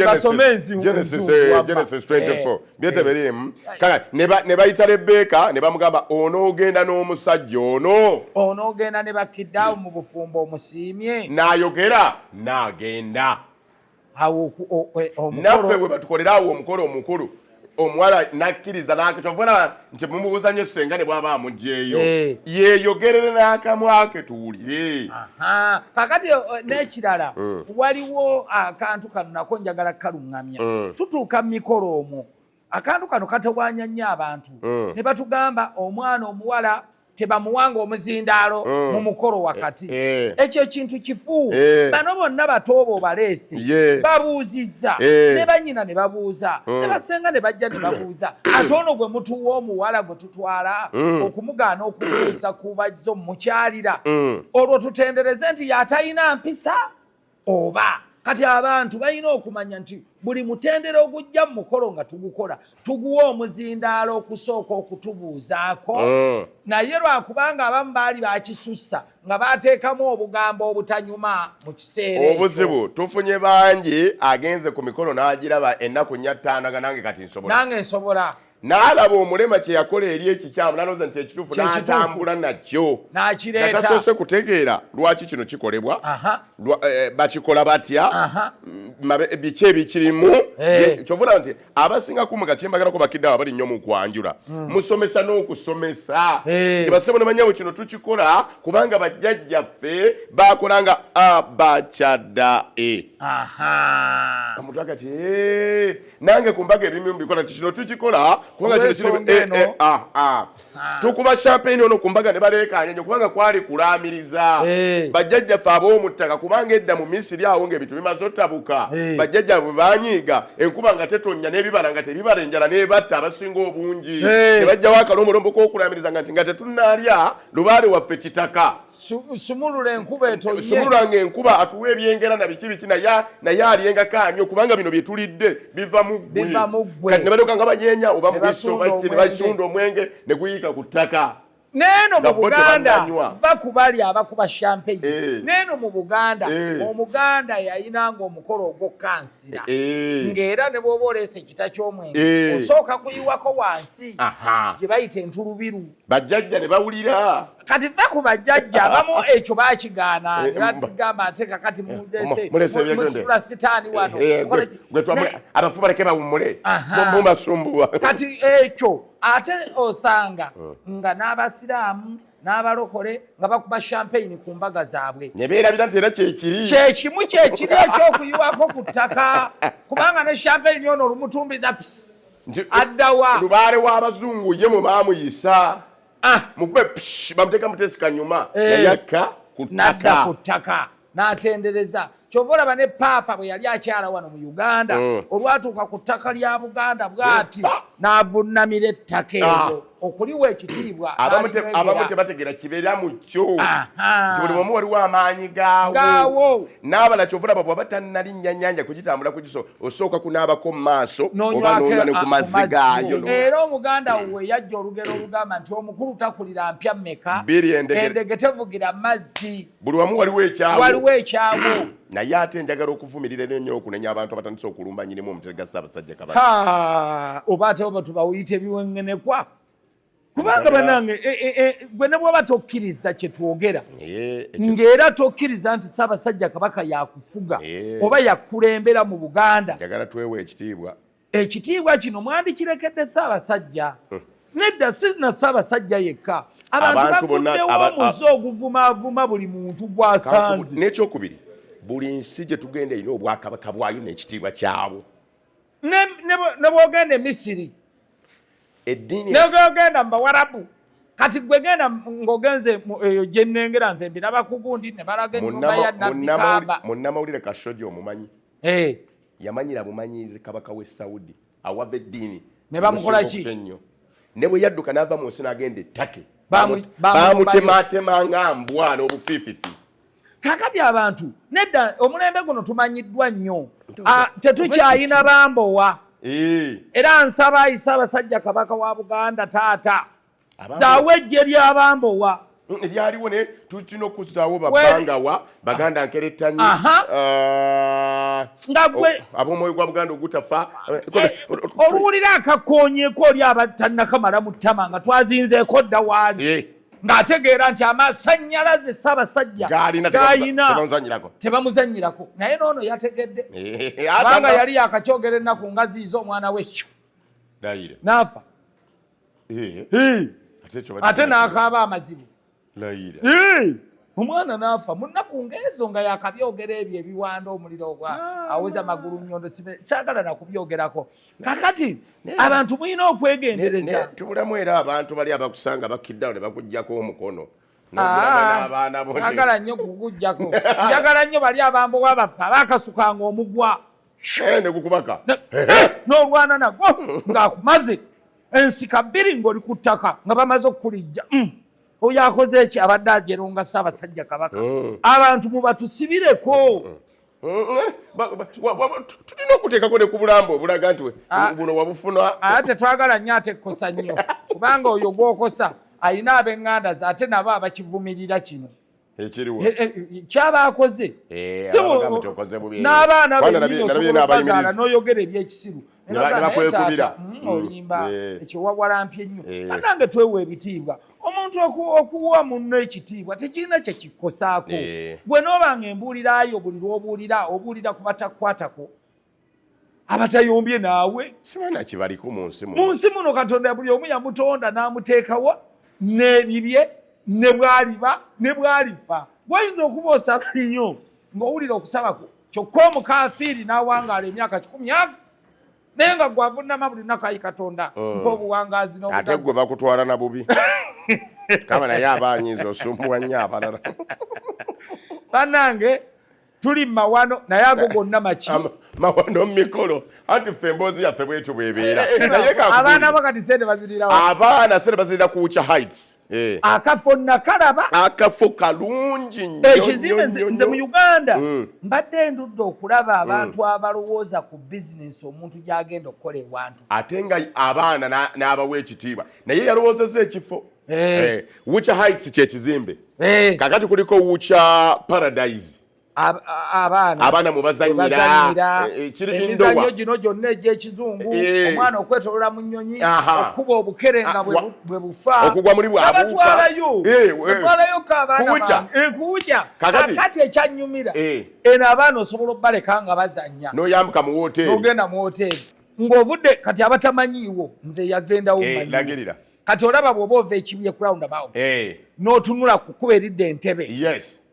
[SPEAKER 2] genesis 24 byetebereemu eh. kale ne bayita lebbeeka ne bamugamba onoogenda n'omusajja ono onoogenda ne bakiddaawo
[SPEAKER 1] mu bufumbo omusiimye n'ayogera
[SPEAKER 2] n'agenda e, naffe we batukolera awo omukolo omukulu omuwala n'akkiriza n'akyovuna nti mumubuuza nyo senga ne bwaba amugyeyo eh. yeyogerere n'akamwa ke tuwulire kakati
[SPEAKER 1] eh, n'ekirala eh. waliwo akantu kano nako njagala kukaluŋŋamya tutuuka mu mikolo omwo akantu kano katawanya nnyo abantu ne batugamba omwana omuwala tebamuwanga omuzindaalo mm. mu mukolo wakati eh, eh. ekyo ekintu kifu eh. bano bonna batooba obaleese babuuzizza ne banyina ne babuuza mm. ne basenga ne bajja ne babuuza mm. ate ono gwe mutuwa omuwala gwe tutwala okumugaana okubuuza kubazza omukyalira olwo tutendereze nti yatalina mpisa oba kati abantu balina okumanya nti buli mutendera ogujja mu mukolo nga tugukola tuguwa omuzindaalo okusooka okutubuuzaako mm. naye lwakubanga abamu baali bakisussa nga bateekamu obugambo obutanyuma mu kiseera obuzibu tufunye
[SPEAKER 2] bangi agenze ku mikolo n'agiraba ennaku nya ttaano nga nange kati nsobola nange nsobola
[SPEAKER 1] n'alaba
[SPEAKER 2] omulema kye yakola eri ekikyamu nalowooza nti ekituufu n'atambula nakyo nga tasoose
[SPEAKER 1] kutegeera
[SPEAKER 2] lwaki kino kikolebwa eh, bakikola batya mm, eh, biki ebikirimu eh. kyovuna nti abasinga kumu nga kyembagalako bakiddawo abali nnyo mu kwanjula hmm. musomesa n'okusomesa tibasebo ne banyawo kino tukikola kubanga bajjajjaffe bakola nga abakyadda e omuntu agati nange ku mbaga ebimu mbikola nti kino tukikola kubanga kino kiri eh, eh, ah, ah. ah. tukuba champagne ono ku mbaga ne baleekaanya nyo kubanga kwali kulaamiriza eh. bajjajjaffe ab'omuttaka kubanga edda mu misiri awo ng'ebintu bimaze otabuka bajjajja bwe banyiiga enkuba nga tetonnya n'ebibala nga tebibala enjala n'ebatta abasinga obungi ne bajjawo akalombolombo k'okulaamiriza nga nti nga tetunnaalya lubaale waffe kitaka sumulula
[SPEAKER 1] enkuba etonye sumulula nga enkuba
[SPEAKER 2] atuwa ebyengera na biki biki naye naye alyenga kanyo kubanga bino byetulidde biva mu ggwe biva mu ggwe kati nebadoka nga banyeenya oba mubiso baki ne basunda omwenge ne guyiika ku ttaka neeno mu
[SPEAKER 1] buganda va kubali abakuba champagne eh. neeno mu buganda eh. omuganda yayina nga omukolo ogwokukansira eh. ngaera ne bwoba oleesa ekita ky'omwenge osooka kuyiwako wansi gye bayita entulubiru bajjajja ne
[SPEAKER 2] bawulira kati va ku
[SPEAKER 1] bajjajja abamu ekyo bakigaana eh, nebagamba nti kakati mumulesesula sitaani wanoabafu
[SPEAKER 2] eh, baleke bawummule mubasumbuwa kati ekyo
[SPEAKER 1] ate osanga hmm. nga n'abasiraamu n'abalokole nga bakuba champagne ku mbaga zaabwe ne beerabira nti era
[SPEAKER 2] kyekiri kyekimu kyekiri
[SPEAKER 1] ekyokuyiwako ku ttaka kubanga ne champagne ono olumutumbiza pisi addawa lubaale w'abazungu
[SPEAKER 2] ye mwe baamuyisa ah. mukube bamuteeka muteesi kanyuma eh. yayakka
[SPEAKER 1] nadda ku ttaka n'atendereza kyova olaba ne paapa bwe yali akyala wano mu uganda mm. olwatuuka ku ttaka lya buganda bwati n'avunnamira ettaka eryo ah. okuliwa ekitiibwa abamu
[SPEAKER 2] tebategera kibeera mu kyo nti buli omu waliwo amaanyi gaawo n'abala kyova olaba bwaba tannalinnya nnyanja kugitambula ku kiso osooka kunaabako mu maaso oba nonya ne ku mazzi gaayo era omuganda
[SPEAKER 1] we yajja olugero olugamba nti omukulu takulira mpya mmeka endege tevugira mazzi buli wamu waliwo ekyawo
[SPEAKER 2] waliwo ekyawo
[SPEAKER 1] naye ate
[SPEAKER 2] njagala okuvumirira eno nnyo okunenya abantu abatandise okulumba nyinimu omutera ga ssaabasajja kabaka oba ate oba
[SPEAKER 1] tubawuyita ebiwengenekwa kubanga banange e, e, e, gwe ne bwaba tokkiriza kye twogera ng'era tokkiriza nti ssaabasajja kabaka yakufuga oba yakulembera mu buganda njagala twewa ekitiibwa
[SPEAKER 2] ekitiibwa
[SPEAKER 1] kino mwandikirekedde Ssaabasajja hmm. nedda si na Ssaabasajja yekka abantu bakuddewo muze oguvumaavuma buli muntu gwasanze n'ekyokubiri
[SPEAKER 2] buli nsi gye tugenda erina obwakabaka bwayo n'ekitiibwa kyabwo
[SPEAKER 1] ne bwogenda emisiri eddiini ne bwogenda mu bawarabu kati gwe genda ng'ogenze eyo gye nnengera nze mbiraba kugundi ne balaga ennyumba ya nabbi kaaba munnamawulire kasoja
[SPEAKER 2] omumanyi Eh. yamanyira bumanyizi kabaka we saudi awava eddiini ne bamukola ki
[SPEAKER 1] ennyo ne bwe
[SPEAKER 2] yadduka n'ava mu nsi n'agenda ettake bamutematema nga mbwa n'obufiififi kakati
[SPEAKER 1] abantu nedda omulembe guno tumanyiddwa nnyo ah, tetukyayina bambowa eh. era nsaba ayise abasajja kabaka wa buganda taata zaawo ejje lyabambowa mm, ebyaliwo ne
[SPEAKER 2] tulina okuzaawo babangawa baganda ah. nkerettanyi ah.
[SPEAKER 1] nga gwe oh, ab'omwoyo gwa buganda
[SPEAKER 2] ogutafa eh,
[SPEAKER 1] oluwulira akakoonyeeko oli abatannakamala mu ttama nga twazinzeeko dda waali eh. ng'ategeera nti amasanyalaze ssaabasajja gayina tebamuzanyirako naye noono yategedde eh, kubanga yali yakakyogera ennaku ngaziiza omwana wekyo naafa ate n'akaaba amazibu omwana n'afa mu nnaku ng'ezo nga yakabyogera ebyo ebiwanda omuliro ogwa ah. aweza magulu nyondo saagala nakubyogerako kakati abantu mulina okwegendereza tubulamu era abantu
[SPEAKER 2] bali abakusanga bakiddawo ne bakugjako omukono Ah, njagala
[SPEAKER 1] nnyo kukujjako njagala nnyo bali abambowa baffe abakasukanga omugwa ne
[SPEAKER 2] gukubaka n'olwana
[SPEAKER 1] nagwo ng'akumaze ensika bbiri ng'oli ku ttaka nga bamaze okukulijja mm. oyo akoze eki abadde ajeronga ssaabasajja kabaka mm. abantu mubatusibireko mm.
[SPEAKER 2] tulina okuteekako ne ku bulambo obulaga nti ah. buno wabufuna ate tetwagala nnyo
[SPEAKER 1] ate kukosa nnyo kubanga oyo gwokosa alina abenganda ze ate nabo abakivumirira kino ekiriwo eh, eh, kyaba akoze eh, n'abaana beobazaala n'oyogera ebyekisiru nebakwekubira hmm, hmm. olimba ekyo wawalampye nnyo anange twewa ebitiibwa omuntu okuwa munno ekitiibwa tekirina kyekikosaako gwe noobanga embuulirayo buli lwobuulira obuulira ku batakwatako abatayombye naawe sibana kibaliko
[SPEAKER 2] mu nsi mu nsi muno katonda buli
[SPEAKER 1] omu yamutonda n'amuteekawo n'ebibye ne bwaliba ne bwalifa gwayinza okuba osaba nnyo ng'owulira okusaba kwo kyokka omukafiiri n'awangaala emyaka kikumi aga naye nga gwe avunnama buli nnaku ayi katonda mm. mpa obuwangaazi ate gwe bakutwala
[SPEAKER 2] na bubi kaba naye aba anyinza osumbuwa nnyo abalala banange
[SPEAKER 1] tuli mawano naye ago gonna maki mawano
[SPEAKER 2] mikolo anti ffe emboozi yaffe bwetyo bwebeera eh, eh, abaana bo
[SPEAKER 1] kati sente bazirirawo abaana sente bazirira
[SPEAKER 2] ku ucha heights eh. akafo
[SPEAKER 1] nakalaba akafo
[SPEAKER 2] kalungi ekizimbe nze mu
[SPEAKER 1] uganda mm. mbadde ndudde okulaba mm. abantu abalowooza ku bizinesi omuntu gyagenda okukola ewantu ate nga
[SPEAKER 2] abaana n'abawa ekitiibwa naye yalowoozeza ekifo hey. Eh. Eh, wucha heights kyekizimbe hey. kakati kuliko wucha paradise abaana abaana mubazanyira eh, eh, emizanyo
[SPEAKER 1] gino gyonna egyekizungu eh. omwana okwetolola mu nyonyi okuba obukerenga ah, bwe bufa okugwa muli bwabatwalayo batwalayo kabaanakuwuja kakati ekyanyumira eno abaana osobola okubaleka nga bazanya noyambuka mu woteri
[SPEAKER 2] ogenda mu woteri
[SPEAKER 1] ng'ovudde kati abatamanyiiwo nze yagendawo manyira kati olaba bwoba ova ekibuye croundabout eh.
[SPEAKER 2] notunula
[SPEAKER 1] kukuba eridda entebe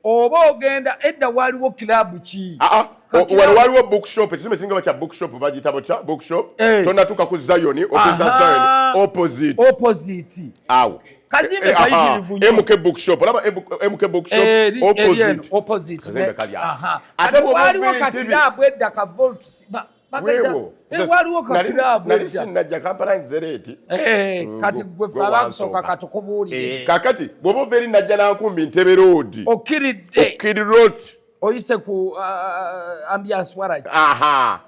[SPEAKER 1] oba ogenda edda waliwo kilabu ki ah, ah. wano waliwo
[SPEAKER 2] bookshop ekisumbe kiringa bakya bookshop bagitabo kya bookshop eh. tonatuka ku zion opposite opposite awo
[SPEAKER 1] kazimbe eh,
[SPEAKER 2] kayitirivu
[SPEAKER 1] nyo mk bookshop olaba
[SPEAKER 2] mk bookshop eh, opposite
[SPEAKER 1] opposite kazimbe kali
[SPEAKER 2] awo ate waliwo
[SPEAKER 1] kakilabu edda ka volts wewo nali sinajja kampala
[SPEAKER 2] nzereeti eh, mm, kati
[SPEAKER 1] gwe falansoka katukubuulire eh, kakati bwoba ova
[SPEAKER 2] eri najja nankumbi ntebe roodi okiridde okiri rood oyise ku uh,
[SPEAKER 1] uh, ambiance waragi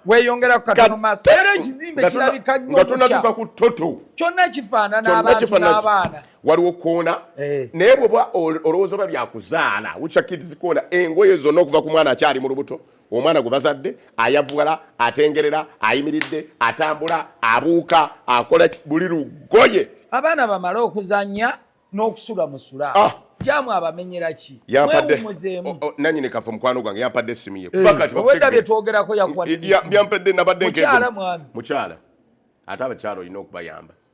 [SPEAKER 1] weyongera ku katono maaso era ekizimbe kirabika nyo nga tonatuka ku toto
[SPEAKER 2] kyonna kifaanana
[SPEAKER 1] abantu n'abaana waliwo koona
[SPEAKER 2] eh. naye bwoba olowooza oba byakuzaala wucakidizikoona engoye zonna okuva ku mwana akyali mu lubuto omwana gwe bazadde ayavugala atengerera ayimiridde atambula abuuka akola buli lugoye abaana bamale
[SPEAKER 1] okuzanya n'okusula musula ah. jamu abamenyera ki wewumuzeemu
[SPEAKER 2] nanyini kafe mukwano gwange yampadde essimu ye eh. obwedda byetwogerako
[SPEAKER 1] yakuwa byampadde
[SPEAKER 2] nabadde mukyala mwami mukyala
[SPEAKER 1] ate
[SPEAKER 2] abakyala olina okubayamba